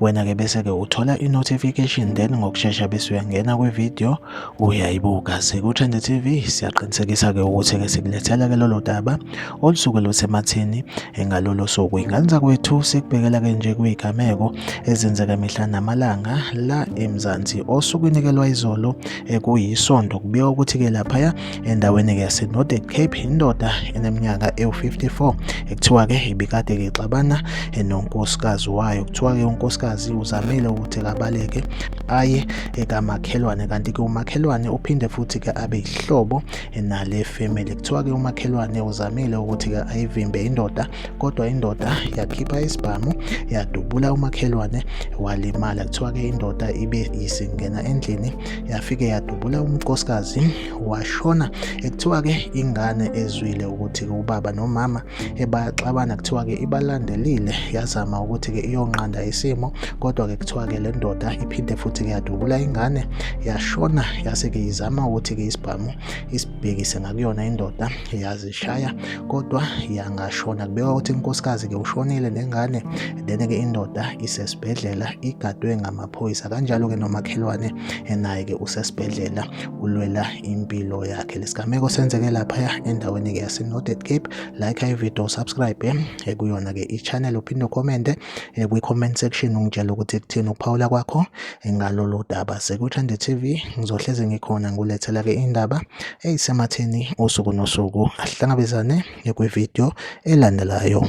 wena-ke bese-ke uthola i-notification then ngokushesha bese uyangena kwi-video uyayibuka siku-trend tv siyaqinisekisa-ke ukuthi-ke sikulethela-ke lolo daba olusuke lusemathini ngalolo suku ingane zakwethu sikubhekela-ke nje kuyigameko ezenzeka mihla namalanga la emzansi osukwini-ke lwayizolo ekuyisonto kubikwa ukuthi-ke laphaya endaweni-ke yasenordic cape indoda eneminyaka ewu-54 ekuthiwa-ke ibikade-ke ixabana nonkosikazi wayo kuthiwa-ke unkosikazi uzamile ukuthi kabaleke aye ekamakhelwane kanti-ke umakhelwane uphinde futhi-ke abe yihlobo nale family kuthiwa-ke umakhelwane uzamile ukuthi-ke ayivimbe indoda kodwa indoda yakhipha isibhamu yadubula umakhelwane walimala kuthiwa-ke indoda ibe isingena endlini yafike yadubula umnkosikazi washona ekuthiwa ke ingane ezwile ukuthi ke ubaba nomama ebaxabana kuthiwa ke ibalandelile yazama ukuthi ke iyonqanda isimo kodwa ke kuthiwa ke le ndoda iphinde futhi ke yadubula ingane yashona yase ke izama ukuthi ke isibhamu isibhekise ngakuyona indoda yazishaya kodwa yangashona kubekwa ukuthi inkosikazi ke ushonile nengane then ke indoda isesibhedlela igadwe ngama phoyisa kanjalo-ke nomakhelwane naye-ke usesibhedlela ulwela impilo yakhe lesigameko senzeke laphaya endaweni-ke yase-northern cape like ivideo subscribe eh, kuyona-ke i-channel uphinde ukhomente eh, kwi-comment section ungitshela ukuthi kuthini ukuphawula kwakho eh, ngalolu daba sekuthande tv ngizohleze ngikhona ngulethela-ke indaba eyisematheni usuku nosuku ahlangabezane kwivideo elandelayo